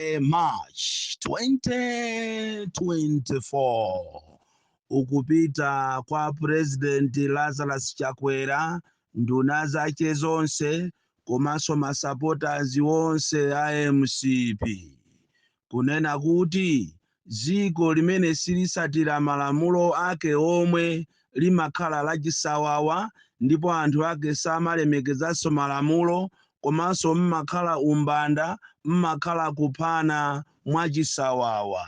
eh, march 2024 ukupita kwa president lazarus chakwera nduna zake zonse komanso masupporters onse a mcp kunena kuti dziko limene silitsatira malamulo ake omwe limakhala lachisawawa ndipo anthu ake samalemekezanso malamulo komanso m'makhala umbanda, m'makhala kuphana mwachisawawa.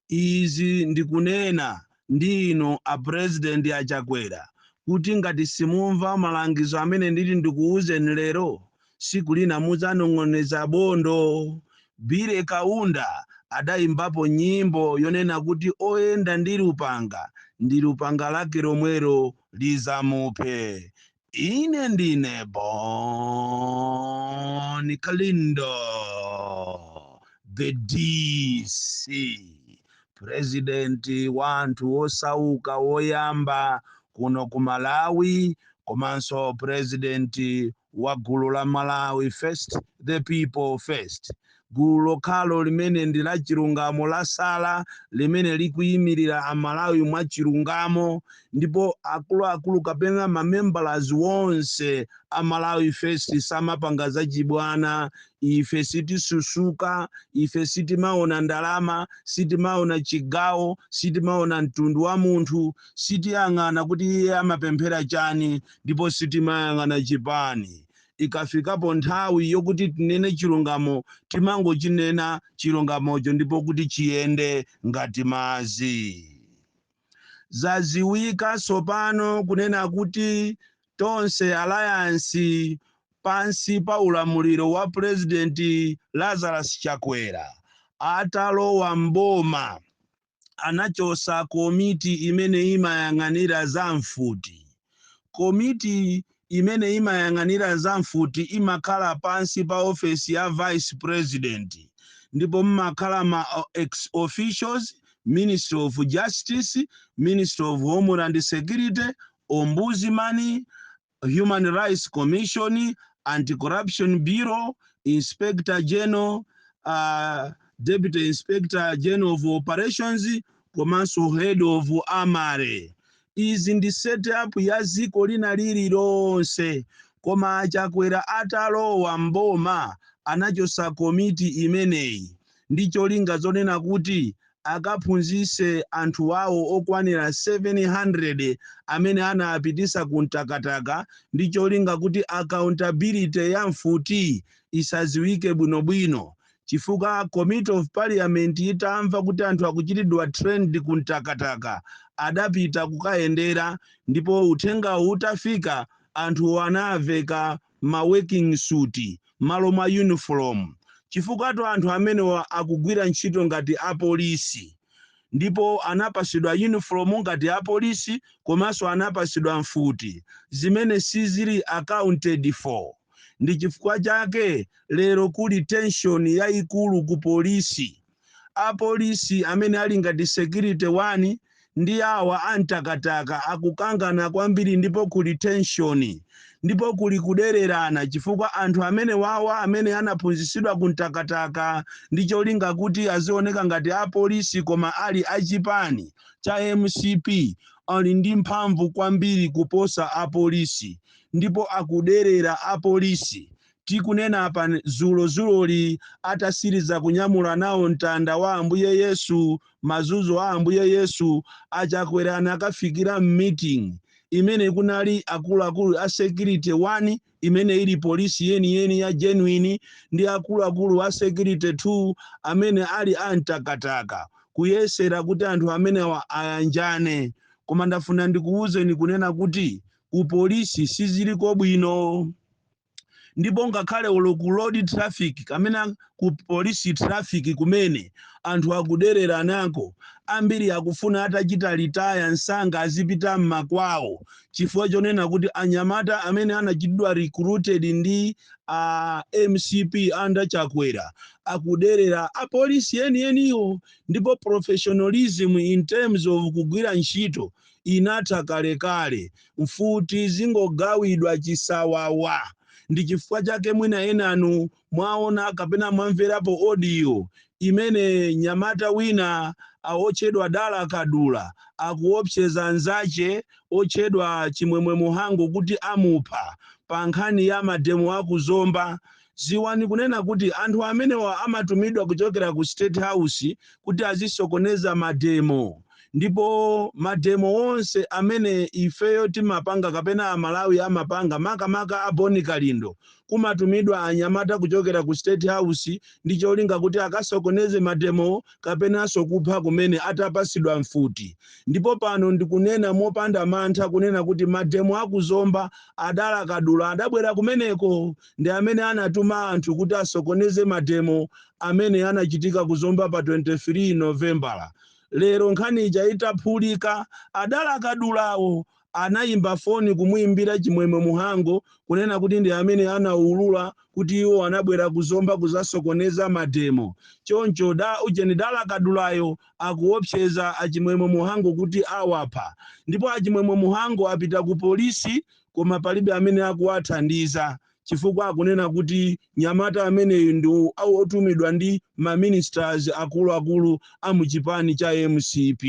Izi ndikunena ndi inu a President a Chakwera kuti ngati simumva malangizo amene nditi ndikuuzeni lero, siku lina mudzanong'oneza bondo. Billy Kaunda adaimbapo nyimbo yonena kuti oyenda ndi lupanga ndi lupanga lake lomwelo lidzamuphe. Ine ndine Bon Kalindo, the DC, purezidenti wa anthu osauka woyamba kuno ku Malawi komanso purezidenti wa gulu la Malawi First, The People First, gulu lokhalo limene ndi lachilungamo lasala limene likuyimirira Amalawi mwachilungamo ndipo akuluakulu kapena mamembers onse a Malawi First samapanga zachibwana. Ife sitisusuka, ife sitimaona ndalama, sitimaona chigawo, sitimaona mtundu wa munthu, sitiyang'ana kuti iye amapemphera chani. ndipo sitimayang'ana chipani. Ikafikapo nthawi yokuti tinene chilungamo timangochinena chilungamocho ndipo kuti chiyende ngati madzi. Zadziwika tsopano kunena kuti Tonse Alliance pansi pa ulamuliro wa Pulezidenti Lazarus Chakwera atalowa m'boma, anachotsa komiti imene imayang'anira za mfuti. Komiti imene imayang'anira za mfuti imakhala pansi pa ofesi ya vice president ndipo mmakhala ma ex officio, Ministry of Justice, Ministry of Homeland Security, Ombudsman, Human Rights Commission, Anti-Corruption Bureau, Inspector General, uh, Deputy Inspector General of Operations komanso Head of Armoury. Izi ndi setup ya dziko lina lililonse koma a Chakwera atalowa mboma anachosa komiti imeneyi ndi cholinga zonena kuti akaphunzitse anthu awo okwanira 700 amene anawapititsa ku Mtakataka ndi cholinga kuti accountability ya mfuti isadziwike bwinobwino chifukwa Committee of Parliament itamva kuti anthu akuchitidwa trained ku Mtakataka adapita kukayendera ndipo uthengawo utafika anthuwo anaveka ma working suit malo mwa uniform chifukwatu anthu amenewa akugwira ntchito ngati apolisi ndipo anapasidwa uniform ngati apolisi komanso anapasidwa mfuti zimene sizili accounted for ndi chifukwa chake lero kuli tension yaikulu ku polisi. Apolisi amene ali ngati security one ndi awa a Mtakataka akukangana kwambiri ndipo kuli tension ndipo kuli kudererana chifukwa anthu amenewawa amene anaphunzitsidwa ku Mtakataka ndi cholinga kuti azioneka ngati apolisi koma ali a chipani cha MCP ali ndi mphamvu kwambiri kuposa apolisi ndipo akuderera apolisi tikunena apa, dzulodzuloli, atasiriza kunyamula nawo mtanda wa Ambuye Yesu, mazunzo a Ambuye Yesu, a Chakwera anakafikira m'meeting imene kunali akuluakulu a security 1 imene ili polisi yeniyeni ya genuine ndi akuluakulu a security 2 amene ali a Mtakataka kuyesera kuti anthu amenewa ayanjane koma ndafuna ndikuwuzeni kunena kuti ku polisi siziliko bwino ndipo ngakhale olo ku road traffic kapena ku police traffic kumene anthu akuderera nako ambiri akufuna atachita retire msanga azipita mmakwawo chifukwa chonena kuti anyamata amene anachitidwa recruited ndi a MCP under Chakwera akuderera apolisi enieniwo ndipo professionalism in terms of kugwira ntchito inatha kalekale, mfuti zingogawidwa chisawawa. Ndi chifukwa chake mwina enanu mwaona kapena mwamverapo audio imene nyamata wina wotchedwa Dala Kadula akuopseza nzache otchedwa Chimwemwe Muhango kuti amupha pa nkhani ya mademo a ku Zomba Ziwani kunena kuti anthu amenewa amatumidwa kuchokera ku state house kuti azisokoneza mademo ndipo mademo onse amene ifeyo timapanga kapena aMalawi amapanga makamaka a Bon Kalindo kumatumidwa anyamata kuchokera ku state house ndi cholinga kuti akasokoneze mademo kapenanso kupha kumene atapasidwa mfuti ndipo pano ndikunena mopanda mantha kunena kuti mademo a ku Zomba a Dala Kadula adabwera kumeneko ndi amene anatuma anthu kuti asokoneze mademo amene anachitika ku Zomba pa 23 Novembala. Lero nkhani ija itaphulika, a Dala Kadulawo anayimba foni kumuyimbira Chimwemwe Muhango kunena kuti ndi amene anawulula kuti iwo anabwera ku Zomba kuzasokoneza mademo. Choncho da ujeni Dala Kadulayo akuopseza a Chimwemwe Muhango kuti awapha. Ndipo a Chimwemwe Muhango apita ku polisi koma palibe amene akuwathandiza chifukwa akunena kuti nyamata ameneyu ndi otumidwa ndi ma ministers akuluakulu a mu chipani cha mcp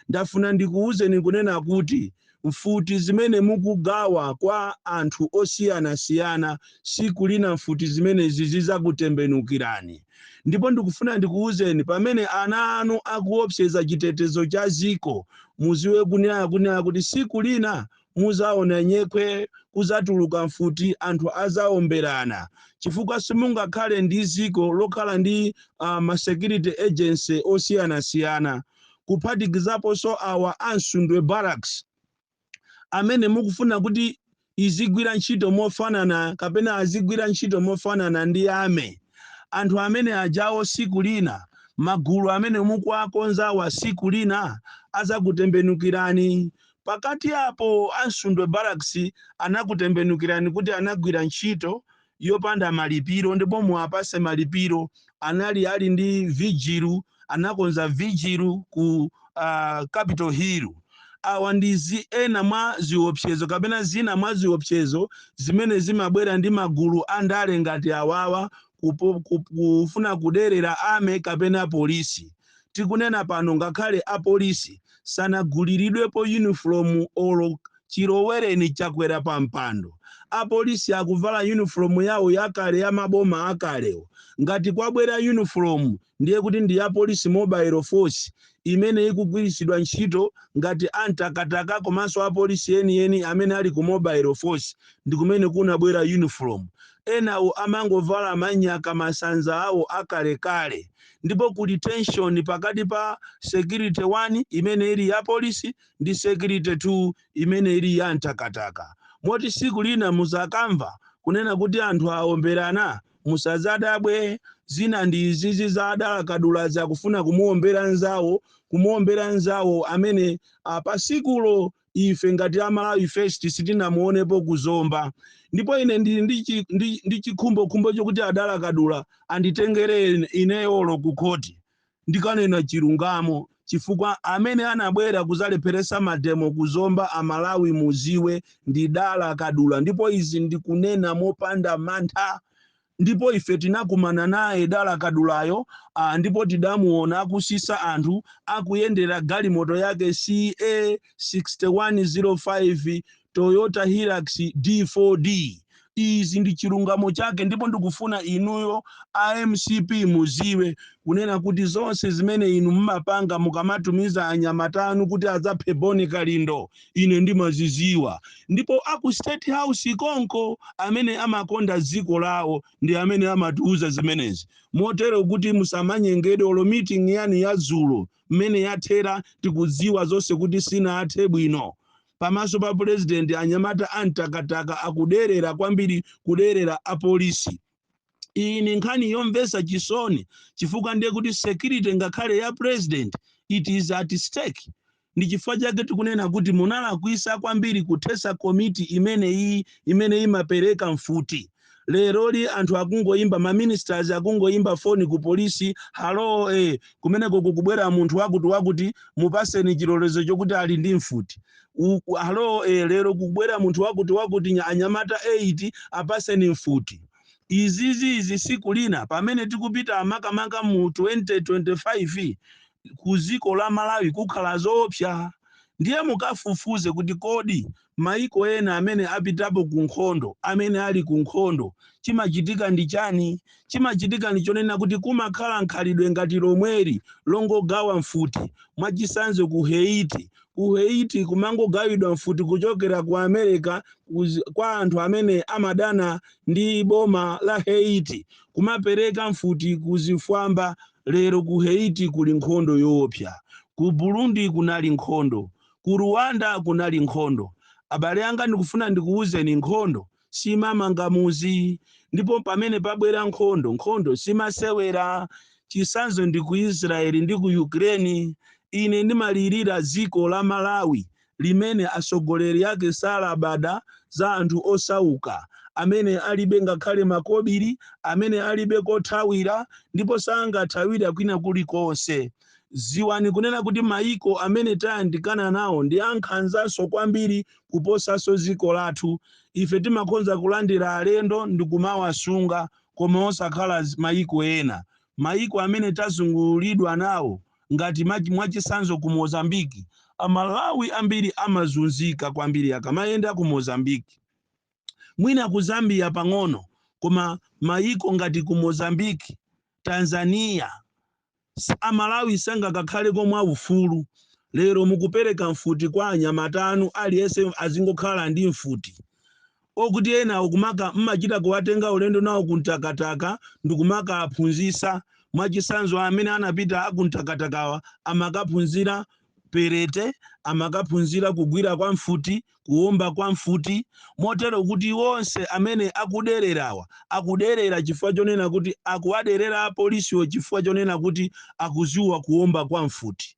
ndafuna ndikuwuzeni kunena kuti mfuti zimene mukugawa kwa anthu osiyanasiyana siku lina mfuti zimenezi zizakutembenukirani ndipo ndikufuna ndikuwuzeni pamene ana anu akuopseza chitetezo cha ziko muziwe kunena kunena kuti siku lina Muzaona nyekhwe, kuzatuluka mfuti, anthu azawomberana, chifukwa simungakhale ndi ziko lokhala ndi uh, ma security agency osiyanasiyana kuphatikizaponso awa a Msundwe Barracks amene mukufuna kuti izigwira ntchito mofanana kapena azigwira ntchito mofanana ndi army anthu amene ajawo siku lina magulu amene mukuakonzawa siku lina azakutembenukirani Pakati apo a Msundwe Barracks anakutembenukirani kuti anagwira ntchito yopanda malipiro ndipo muwapase malipiro anali ali ndi vigil anakonza vigil ku uh, Capital Hill awa ndi zi ena mwa ziopsezo kapena zina mwa ziopsezo zimene zimabwera ndi magulu a ndale ngati awawa kupo, kup, kufuna kuderera army kapena polisi tikunena pano ngakhale a polisi sanaguliridwepo uniform olo chilowereni Chakwera pa mpando a polisi akuvala uniform yawo yakale ya maboma akalewo ngati kwabwera uniform ndiye kuti ndi ya police mobile force imene ikugwiritsidwa ntchito ngati a Mtakataka komanso a polisi yeniyeni amene ali ku mobile force ndi kumene kunabwera uniform enawo amangovala manyaka masanza awo akalekale ndipo kuli tension pakati pa security 1 imene ili ya polisi ndi security 2 imene ili ya Mtakataka moti siku lina muzakamva kunena kuti anthu awomberana musazadabwe zina ndi izizi za a Dala Kadulazi akufuna kumuwombera nzawo kumuwombera nzawo amene a pa sikulo ife ngati a Malawi First sitinamuonepo ku Zomba ndipo ine ndili ndi chi- ndi- ndi chikhumbokhumbo chokuti a Dala Kadula anditengere ine- ineyo olo ku khoti ndikanena chilungamo chifukwa amene anabwera kuzalepheresa mademo ku Zomba a Malawi muziwe ndi Dala Kadula ndipo izi ndikunena mopanda mantha Ndipo ife tinakumana naye Dala Kadulayo, a. ndipo tidamuwona akusisa anthu, akuyendera galimoto yake CA 6105 Toyota Hilux D4D. Izi ndi chilungamo chake, ndipo ndikufuna inuyo a mcp muziwe kunena kuti zonse zimene inu mumapanga mukamatumiza anyamata anu kuti adzaphe Bon Kalindo, ine ndimaziziwa ndipo aku state house konko amene amakonda dziko lawo ndi amene amatiuza zimenezi motero kuti musamanyengedwe olo meeting yanu ya dzulo mmene yathera tikudziwa zonse kuti sinathe bwino pamaso pa pulezidenti anyamata amtakataka akuderera kwambiri kuderera apolisi iyi ni nkhani yomvetsa chisoni chifukwa ndiye kuti security ngakhale ya president it is at stake ndi chifukwa chake tikunena kuti munalakwisa kwambiri kuthetsa komiti imeneyi imene imapereka mfuti leroli anthu akungoyimba maministers akungoyimba foni ku polisi halo eh, kumeneko kukubwera munthu wakuti wakuti mupaseni chilolezo chokuti ali ndi mfuti Uku, halo e, lero kukubwera munthu wakuti wakuti nya- anyamata 8 apaseni mfuti izizi izi siku lina pamene tikupita makamaka mu 2025 ku dziko la malawi kukhala zoopsa ndiye mukafufuze kuti kodi maiko ena amene apitapo ku nkhondo amene ali ku nkhondo chimachitika ndi chani chimachitika ndi chonena kuti kumakhala nkhalidwe ngati lomweli longogawa mfuti mwachisanzo ku haiti ku Haiti kumangogawidwa mfuti kuchokera ku America kuz- kwa anthu amene amadana ndi boma la Haiti kumapereka mfuti ku zifwamba lero ku Haiti kuli nkhondo yoopsa ku Burundi kunali nkhondo ku Rwanda kunali nkhondo abale anga ndikufuna ndikuwuzeni nkhondo simamanga muzi ndipo pamene pabwera nkhondo nkhondo simasewera chisanzo ndi ku israeli ndi ku ukraine ine ndimalirira dziko la malawi limene atsogoleri ake salabada za anthu osauka amene alibe ngakhale makobiri amene alibe kothawira ndipo sangathawira kwina kulikonse ziwani kunena kuti maiko amene tayandikana nawo ndi ankhanzanso kwambiri kuposanso dziko lathu. Ife timakhonza kulandira alendo ndikumawasunga koma osakhala mayiko ena. Mayiko amene tazungulidwa nawo ngati mwachitsanzo ku Mozambique, a Malawi ambiri amazunzika kwambiri akamayenda ku Mozambique. Mwina ku Zambia pang'ono koma mayiko ngati ku Mozambique, Tanzania, Amalawi sangakakhaleko mwa ufulu, lero mukupereka mfuti kwa anyamata anu aliyense azingokhala ndi mfuti, okuti enawo kumaka mmachita kuwatenga ulendo nawo ku Mtakataka ndikumakawaphunzitsa, mwachisanzo amene anapita aku Mtakatakawa amakaphunzira Perete amakaphunzira kugwira kwa mfuti, kuwomba kwa mfuti, motero kuti onse amene akudererawa akuderera chifukwa chonena kuti akuwaderera apolisiwo chifukwa chonena kuti akudziwa kuwomba kwa mfuti,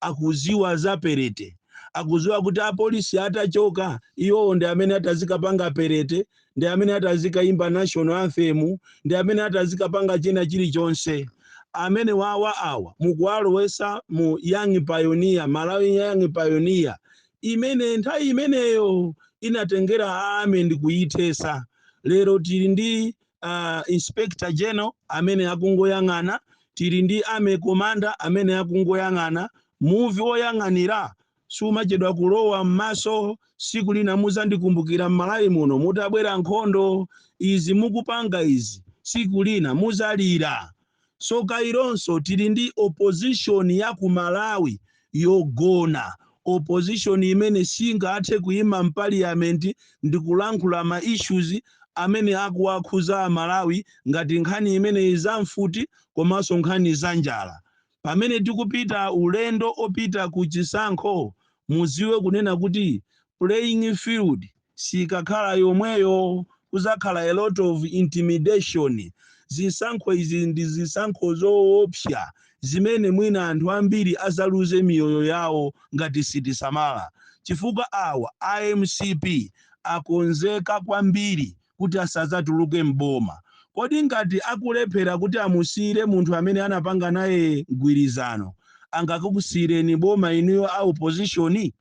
akudziwa za perete, akudziwa kuti apolisi atachoka, iwowo ndi amene atazikapanga perete ndi amene ati azikayimba national anthem ndi amene ati azikapanga china chilichonse amene awa awa mukuwalowesa mu young pioneer malawi young pioneer imene nthawi imeneyo inatengera army ndi kuyithesa lero tili ndi uh, inspector general amene akungoyang'ana tili ndi army commander amene akungoyang'ana muvi woyang'anira sumachedwa kulowa mmaso siku lina muzandikumbukira mmalawi muno mutabwera nkhondo izi mukupanga izi siku lina muzalira so kawirinso tili ndi opposition ya ku malawi yogona opposition imene singathe kuima mpaliyamenti ndikulankhula ma issues amene akuwakhuza amalawi ngati nkhani imene izamfuti komanso nkhani za njala pamene tikupita ulendo opita ku chisankho muziwe kunena kuti playing field sikakhala yomweyo kuzakhala a lot of intimidation zisankho izi ndi zisankho zoopsya zimene mwina anthu ambiri azaluze miyoyo yawo ngati sitisamala chifukwa awa a mcp akonzeka kwambiri kuti asadzatuluke m'boma. Kodi ngati akulephera kuti amusiyire munthu amene anapanga naye mgwirizano, angakukusiyireni boma inuyo a opposition?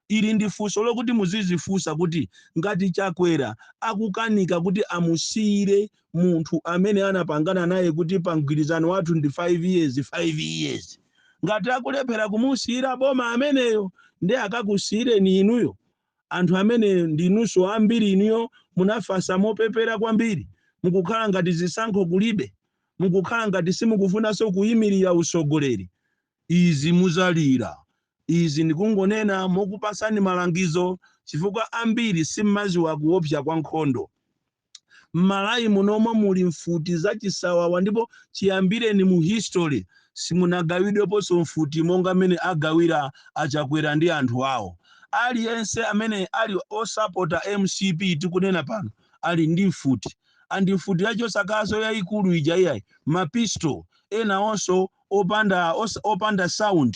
Ili ndi funso lokuti muzidzifunsa kuti ngati Chakwera akukanika kuti amusiyire munthu amene anapangana naye kuti pa mgwirizano wathu ndi 5 years, 5 years. Ngati akulephera kumusiyira boma ameneyo, ndiye akakusiyireni inuyo? Anthu amene ndinunso ambiri inuyo munafasa mopepera kwambiri, mukukhala ngati zisankho kulibe, mukukhala ngati simukufunanso kuimirira utsogoleri. Izi muzalira. Izi ndikungonena mokupatsani malangizo chifukwa ambiri simmaziwa kuopsa kwa nkhondo. M'Malawi munomwe muli mfuti za chisawawa ndipo chiyambireni mu history simunagawidweponso mfuti monga m'mene agawira a Chakwera ndi anthu awo. Aliyense amene ali wosapota mcp tikunena pano ali ndi mfuti and mfuti ya chosaka yaikulu ija iyayi, ma pistol enawonso opanda opanda sound.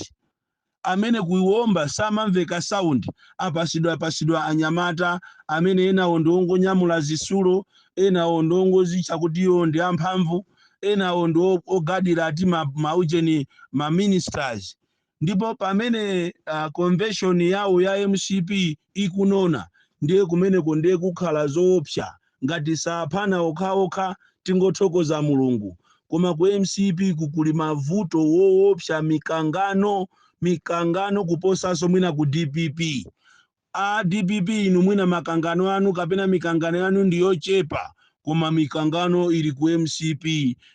amene kuwomba samamveka sound apatsidwapatsidwa anyamata amene enawo ndiongonyamula zitsulo enawo ndiongodzitcha kuti iwo ndi amphamvu enawo ndi ogadira ati ma, ma ujeni ma ministers ndipo pamene uh, convention yawo ya mcp ikunona ndiye kumeneko ndiye kukhala zoopsa ngati saphana okhaokha tingothokoza Mulungu koma ku mcp ku kuli mavuto owoopsa mikangano mikangano kuposanso mwina ku dpp a dpp inu mwina makangano anu kapena mikangano yanu ndi yochepa koma mikangano ili ku mcp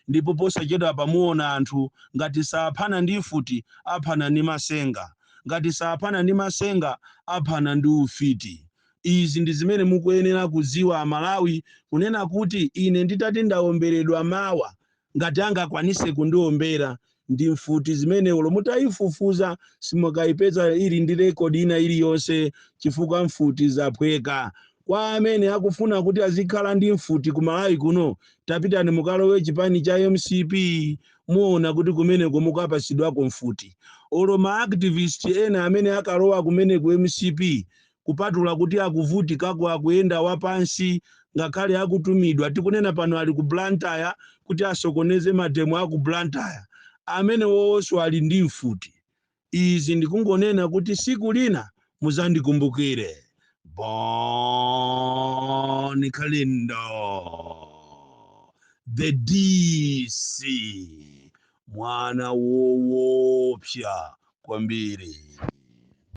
ndipo posachedwa apa muona anthu ngati saphana ndi mfuti aphana ndi masenga ngati saphana ndi masenga aphana ndi ufiti Izi ndi zimene mukuyenera kudziwa a Malawi kunena kuti ine nditati ndaomberedwa mawa ngati angakwanise kundiombera ndi mfuti imene olo mutaifufuza simukaipeza ili ndi record ina iliyonse chifukwa mfuti zaphweka. Kwa amene akufuna kuti azikhala ndi mfuti ku Malawi kuno tapitani mukalowe chipani cha mcp muona kuti kumeneko mukapatsidwako mfuti. Olo ma activist ena amene akalowa kumene ku mcp kupatula kuti akuvutikako akuyenda wapansi ngakhale akutumidwa tikunena pano ali ku Blantyre kuti asokoneze mademo aku Blantyre amenewonso ali ndi mfuti izi ndikungonena kuti siku lina muzandikumbukire Bon Kalindo the DC mwana woopsa kwambiri